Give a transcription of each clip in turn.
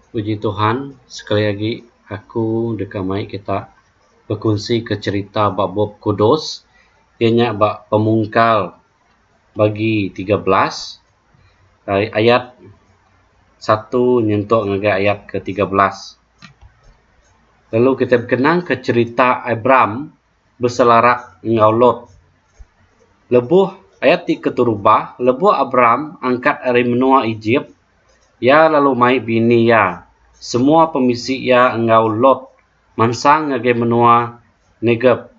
Puji Tuhan sekali agi aku deka mai kita bekunsi ka cherita ba bup Kudus iya nya ba Pemungkal bagi tiga belas ai ayat satu nyentuk ngagai ayat ke tiga belas lalu kita bekenang ka cherita Abram. beselarak enggau Lot. Lebuh ayat ti keterubah, lebuh Abram angkat ari menua Ejip, iya lalu mai bini iya, semua pemisi iya enggau Lot mansang ngagai menua Negeb,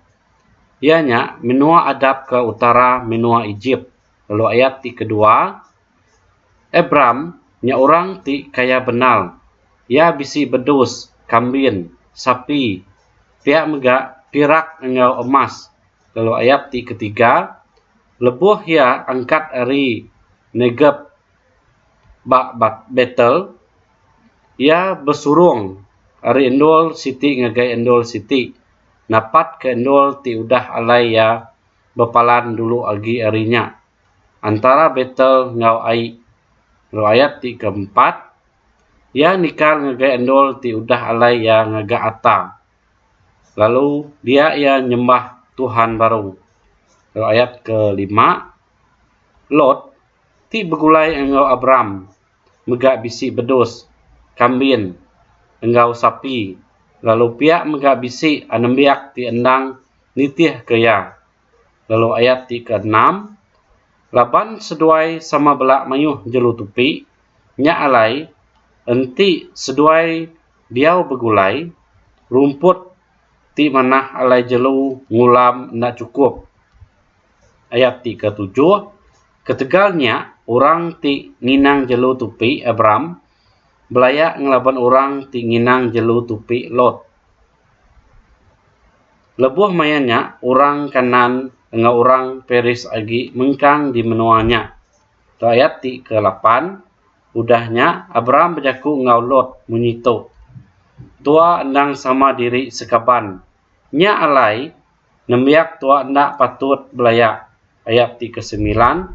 iya nya menua adap ke utara menua Ejip. Lalu ayat ti kedua, Abram nya orang ti kaya benal. Iya bisi bedus, kambin, sapi, pia mega pirak enggau emas, lalu ayat ti ketiga, lebuh iya angkat ari Negeb ba Betel, iya besurung ari endur siti ngagai endur siti, napatka endur ti udah alai iya bepalan dulu agi ari nya. Antara Betel enggau Ai enggau ayat ti keempat, iya nikal ngagai endur ti udah alai iya ngaga ata, lalu dia iya nyembah tuhan baru. Enggau ayat kelima, Lot, ti begulai enggau Abram, mega bisi bedus, kambin, enggau sapi, lalu pia mega bisi anembiak ti endang nitihka iya. lalu ayat ti ke enam laban seduai sama bela mayuh jelu tupi nya alai enti seduai diau begulai rumput ti manah alai jelu ngulam enda chukup. Ayat ti ke tujuh ketegal nya orang ti nginang jelu tupi Abram belaya ngelaban orang ti nginang jelu tupi Lot. Lebuh maya nya, orang Kanaan enggau orang Peris agi mengkang di menua nya. Tu ayat ti kelapan, Udah nya, Abram bejaku enggau Lot munyi tu, Tua endang sama diri sekaban. Nya alai, nembiak tua enda patut belaya. Ayat ti kesemilan.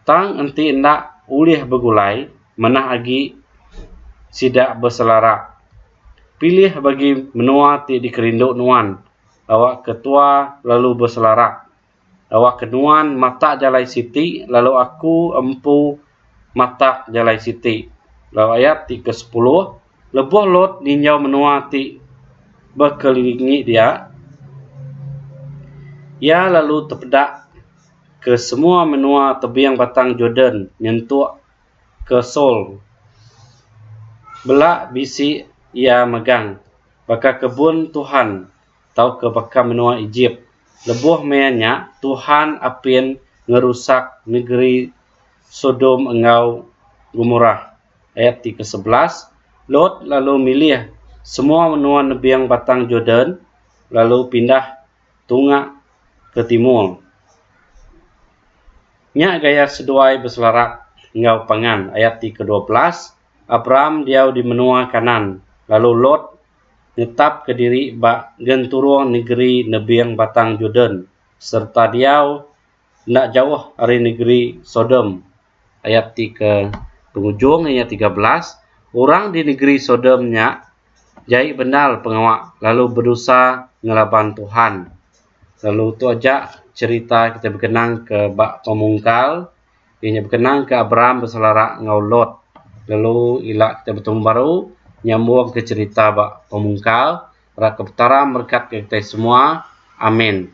Tang enti enda ulih begulai manah agi sida beselara pilih bagi menua ti dikerindu nuan awakka tua lalu beselara awakka nuan matak jalai siti lalu aku empu matak jalai siti lalu ayat ti ke sepuluh lebuh Lot ninjau menua ti bekelilingi dia iya lalu tepeda ke semua menua tebing Batang Jordan nyentuk ke Saul bela bisi iya megang baka kebun Tuhan tauka baka menua Ejip. Lebuh maya nya, Tuhan apin ngerusak negeri Sodom enggau Gomorah. Ayat ti ke-11, Lot lalu milih semua menua nebing Batang Jordan lalu pindah tunga ke timur. Nya gaya seduai beselarap enggau pangan ayat ti kedua belas, Abram diau di menua Kanaan, lalu Lot netapka diri ba genturung negeri nebing Batang Jordan sereta diau enda jauh ari negeri Sodom. ayat ti ke pengujung iya tiga belas orang di negeri sodom nya jai bendar pengawa lalu bedosa ngelaban tuhan lalu tu aja cerita kita bekenang ke ba pemungkal iya nya bekenang ke abraham beselara enggau lot lalu ila kita betemu baru nyambung ke cerita ba pemungkal ra ke petara berkat ke kita semua amin